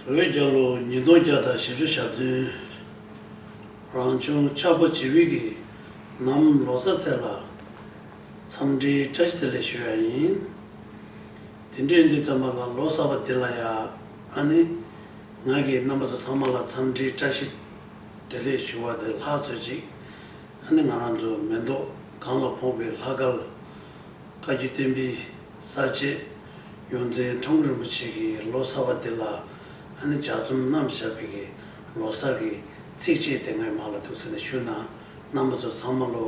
བོད་རྒྱ་ལོ་ཉིས་སྟོང་བརྒྱ་དང་ཞེ་བཅུ་ཞག་བདུན། རང་བྱུང་ཆགས་པ་ཇི་བིས་ཀྱི་ནམ་ལོ་གསར་ཚེས་ལ། འཚམས་འདྲིའི་བཀྲ་ཤིས་བདེ་ལེགས་ཞུ་ཡ་ཡིན། དེ་འདྲའི་འདི་ཙམ་པ་ལ་ལོ་གསར་པ་འདི་ལ་ཡ་ཨ་ནི། ང་གིས་རྣམ་པ་ཚོ་ཚང་མ་ལ་འཚམས་འདྲིའི་བཀྲ་ཤིས་བདེ་ལེགས་ཞུ་བ་དེ་ལྷག་ཚོད་ཅིག་ཨ་ནི་ང་རང་ཚོ་མེ་མདོ་སྒང་ལ་ཕོངས་པའི་ལྷ་དཀར། བཀའ་བརྒྱུད་བསྟན་པའི་གསར་བརྗེ། ཡོངས་འཛིན་ཁྲོམ་བུ་རིན་པོ་ཆེ་གི་ལོ་གསར་བ་འདི་ལ་ཨ་ནི་ལྗགས་རྩོམ་རྣམ་བཞག་པའི་གི་ལོ་གསར་གི་ཚིགས་བཅད་དེ་ངའི་མག་ལ་ཐུག་ཟེར་ནས་ཞུ་ན་རྣམ་པ་ཚོ་ཚང་མ་ལོ་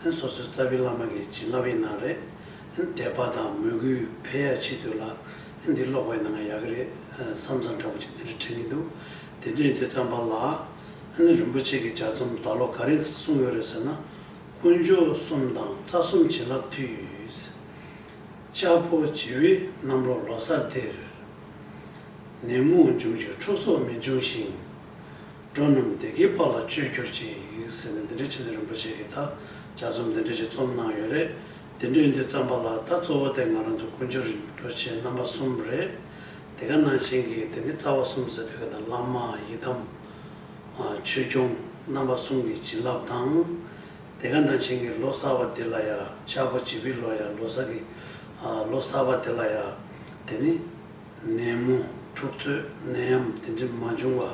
ཨན་སོ་སོའི་རྩ་བའི་བླ་མ་གི་བྱིན་རླབས་ཡིན་ན་རེད་ཨན་དད་པ་དང་མོས་གུས་འཕེལ་ཡག་ཆེ་དུས་ལ་ཨན་འདི་ཀློག་པ་ཡིན་ན་ང་ཡག་གི་རེད་བསམ་བསམ་འདྲ་པོ་ཅིག་འདི་འདྲ་དྲན་གྱི་འདུག་དེ་དུས་དེ་བརྩམས་པ་ལ་ཨ་ནི་རིན་པོ་ཆེ་གི་ལྗགས་རྩོམ་ད་ལོ་ག་རེ་གསུངས་ཡོད་རེད་ཟེར་ན། དཀོན་མཆོག་གསུམ་དང་རྩ་གསུམ་བྱིན་རླབས་མཐུས། ལྕགས་ཕོ་བྱི་བའི་གནམ་ལོ་ལོ་སར་དེར། ནད་མུག་འབྱུང་བྱེད་འཁྲུག་སོགས་མི་འབྱུང་ཞིང། འགྲོ་རྣམས་བདེ་དགེའི་དཔལ་ལ་སྤྱོད་གྱུར་ཅིག་ཟེར་ནས་འདི་འདྲའི་ཆེད་དུ་རིན་པོ་ཆེ་གིས་ད་ལྕགས་རྩོམ་འདི་འདྲ་ཞིག་རྩོམ་གནང་ཡོད་རེད། འདི་འདྲའི་འདི་བརྩམས་པ་ལ་ད་གཙོ་བོ་དེ་ང་རང་ཚོ་དཀོན་མཆོག་རིན་པོ་ཆེ་རྣམ་པ་གསུམ་རེད། དེ་ག་ནང་བཞིན་གྱི་དེ་ནི་རྩ་བ་གསུམ་ཟེར་དུས་ག་ད་བླ་མ་ཡི་དམ། ཆོས་སྐྱོང་རྣམ་པ་གསུམ་གྱི་བྱིན་རླབས་དང། དེ་ག་ནང་བཞིན་གྱི་ལོ་གསར་བ་དེ་ལ་ཡ་ཆག་པོ་བྱེད་པི་ལོ་ཡ་ལོ་གསར་གྱི་ལོ་གསར་བ་དེ་ལ་ཡ་དེ་ནི་ནད་མུ་འཁྲུག་རྩོད་ནད་ཡམ་དེ་འདྲི་མ་འབྱུང་བ་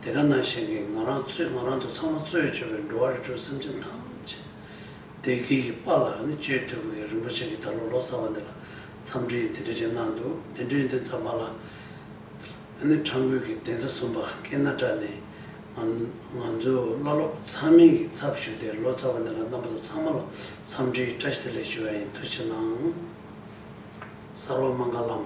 དེ་ག་ནང་བཞིན་གྱི་ང་རང་ཚོས་ང་རང་ཚོ་ཚང་མ་གཙོས་བྱོས་པའི་འགྲོ་བ་རི་ཁྲོད་སེམས་ཅན་ཐམས་ཅད་བདེ་སྐྱིད་ཀྱི་པ་ལ་ནི་གཅོད་ཐུབ་གི་རིན་པོ་ཆེ་གི་ད་ལོ་ལོ་གསར་བ་འདི་ལ་འཚམས་འདྲི་དེ་འདྲི་བྱེད་གནང་འདུག་དེ་འདྲི་དེ་འཚམས་པ་ལ། ཨ་ནེ་ཁྲ་འགུལ་གྱི་གདན་ས་གསུམ་པ་སྐེ་སྣ་བཀྲ་ནས། ང་ཚོའི་བླ་སློབ་ཚང་མིང་གི་ཚབ་ཞུས་ཏེ་ལོ་ཙཱ་བ་འདི་ལ་རྣམ་པ་ཚོ་ཚང་མ་ལ་འཚམས་འདྲིའི་བཀྲ་ཤིས་བདེ་ལེགས་ཞུ་བ་ཡིན་ཐུགས་ཆེ་གནང། གསར་བ་མངྒ་ལམ།